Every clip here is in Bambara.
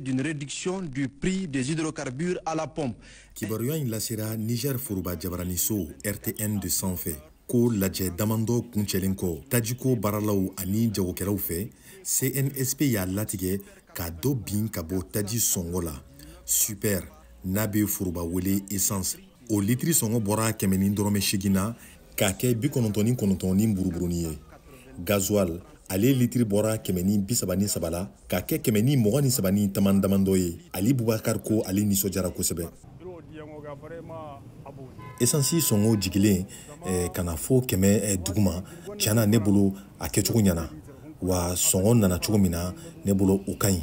d'une réduction du prix des hydrocarbures à la pompe. Kibaruya in lasera Niger Foroba Jabaraniso RTN de sanfɛ ko lajɛ damandɔ kuncɛlen kɔ tajiko baaralaw ani jagokɛlaw fɛ CNSP y'a latigɛ ka dɔ bin ka bɔ taji sɔngɔ la super n'a bɛ foroba wele essence o litiri sɔngɔ bɔra kɛmɛ ni dɔrɔmɛ seegin na k'a kɛ bi kɔnɔntɔn ni kɔnɔntɔn ni buruburuni ye gazuwal ale litiri bɔra kɛmɛ ni bisaba ni saba la k'a kɛ kɛmɛ ni mugan ni saba ni tama damandɔ ye ali bubakar ko ale nisɔndiyara kosɛbɛ esansi sɔngɔ jigilen eh, ka na fo kɛmɛ eh, duguma tiɲɛ na ne bolo a kɛcogo ɲɛna wa sɔngɔ nana cogo min na ne bolo o ka ɲi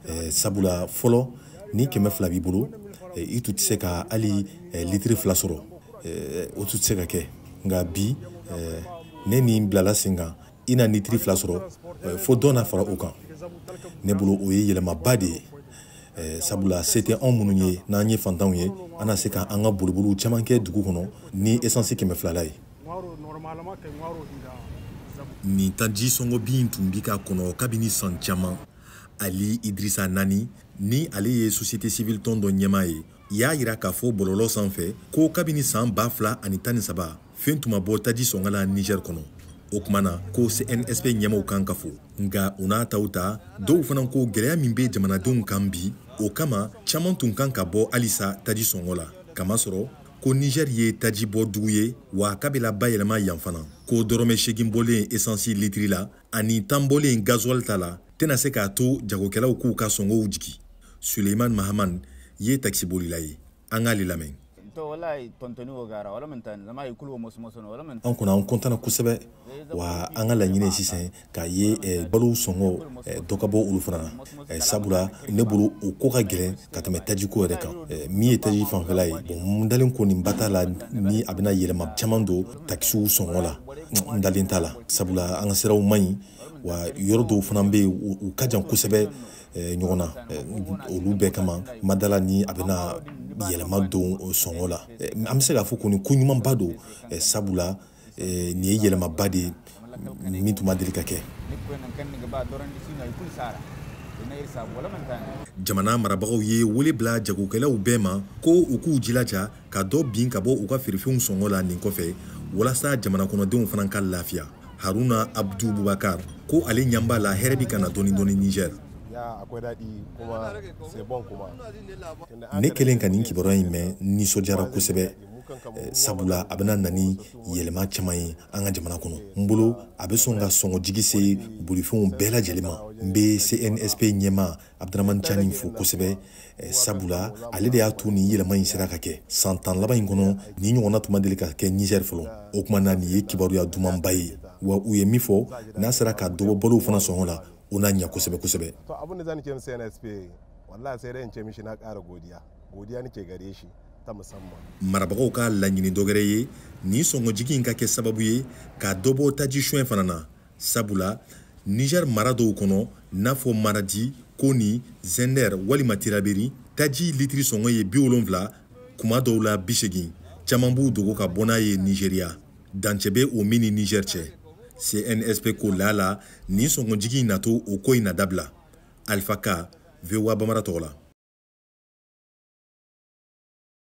eh, sabula fɔlɔ ni kɛmɛ fila b'i bolo eh, i tun tɛ se ka hali eh, litiri fila sɔrɔ eh, o tun tɛ se ka kɛ nka bi eh, ni nin bilala sen kan i na litiri fila sɔrɔ eh, fo dɔ na fara o kan ne bolo o ye yɛlɛmaba de ye Eh, sabula se tɛ anw minnu ye n'an ye fantanw ye an na se ka an ka boliboliw caman kɛ dugu kɔnɔ ni esansi kɛmɛ fila la ye nin taji sɔngɔ bin tun bi ka kɔnɔ kabini san caman ali idrisa nani ni ale ye société civile tɔn dɔ ɲɛmaa ye y'a yira k'a fɔ bɔlɔlɔ sanfɛ ko kabini san ba fila ani tan ni saba fɛn tun ma bɔ taji sɔngɔ la nizɛr kɔnɔ o kuma na ko cnsp ɲɛmaw kan ka fo nka o n'a ta o ta dɔw fana ko gwɛlɛya min bɛ jamanadenw kan bi o kama caaman tun kan ka bɔ halisa taji sɔngɔ la kamasɔrɔ ko nizɛr ye taji bɔ dugu ye wa k'a bi labayɛlɛma yan fana ko dɔrɔmɛ seegin bɔlen esansi litiri la ani tan bɔlen gazuwali ta la tɛna se k'a to jagokɛlaw k'u ka sɔngɔw jigi suleiman mahaman ye takisibolila ye an k'ale lamɛn an kɔni an kɔntana kosɛbɛ wa an ka laɲini sisan k'a ye eh, balow sɔngɔ eh, dɔ ka bɔ olu fana na eh, sabula ne bolo o ko ka gɛlɛn ka tɛmɛ tajiko yɛrɛ kan min ye taji fanfɛla ye bon n dalen kɔni ba t'a la ni a bɛna yɛlɛma caman don takisiw sɔngɔ la n dalen t'a la sabula an ka siraw man ɲi wa yɔrɔ dɔw fana bɛ yen u ka jan kosɛbɛ eh, ɲɔgɔn na eh, olu bɛɛ kama n ma d'a la ni a bɛna yɛlɛma don sɔngɔ la eh, an bɛ se k'a fɔ kɔni ko ɲumanba don sabula nin ye yɛlɛmaba de ye min tun ma deli ka kɛ jamana marabagaw ye wele bila jagokɛlaw bɛɛ ma ko u k'u jilaja ka dɔ bin ka bɔ u ka feerefɛnw sɔngɔ la nin kɔfɛ walasa jamana kɔnɔdenw fana ka lafiya haruna abdu bubakar ko ale ɲɛ b'a la hɛrɛ bi ka na dɔɔni dɔɔni niger ne kɛlen ka nin kibaruya in mɛn nisɔndiyara kosɛbɛ eh, sabula a bɛna na ni yɛlɛma caman ye an ka jamana kɔnɔ n bolo a bɛ sɔn ka sɔngɔ jigi se bolifɛnw bɛɛ lajɛlen ma n bɛ cnsp ɲɛma abdramani cani fo kosɛbɛ eh, sabula ale de y'a to nin yɛlɛma in sera ka kɛ san tan laban in kɔnɔ nin ɲɔgɔnna tun ma deli ka kɛ nizɛri fɔlɔ o kuma na nin ye kibaruya dumanba ye wa u ye min fɔ n'a sera ka dɔbɔ balow fana sɔngɔ la o na ɲɛ kosɛbɛ kosɛbɛ marabagaw ka laɲini dɔgɛrɛ ye nin sɔngɔjigi in ka kɛ sababu ye ka dɔbɔ taji suɲɛ fana na sabula niger mara dɔw kɔnɔ n'a fɔ maradi koni zinder walima tilaberi taji litiri sɔngɔ ye bi wolonfila kuma dɔw la bi segin caman b'u dogo ka bɔ n'a ye nizeriya dancɛ bɛ o min ni niger cɛ cnsp ko laala nin sɔngɔjigi in na to o ko in na dabila alifa ka voa bamara tɔgɔ la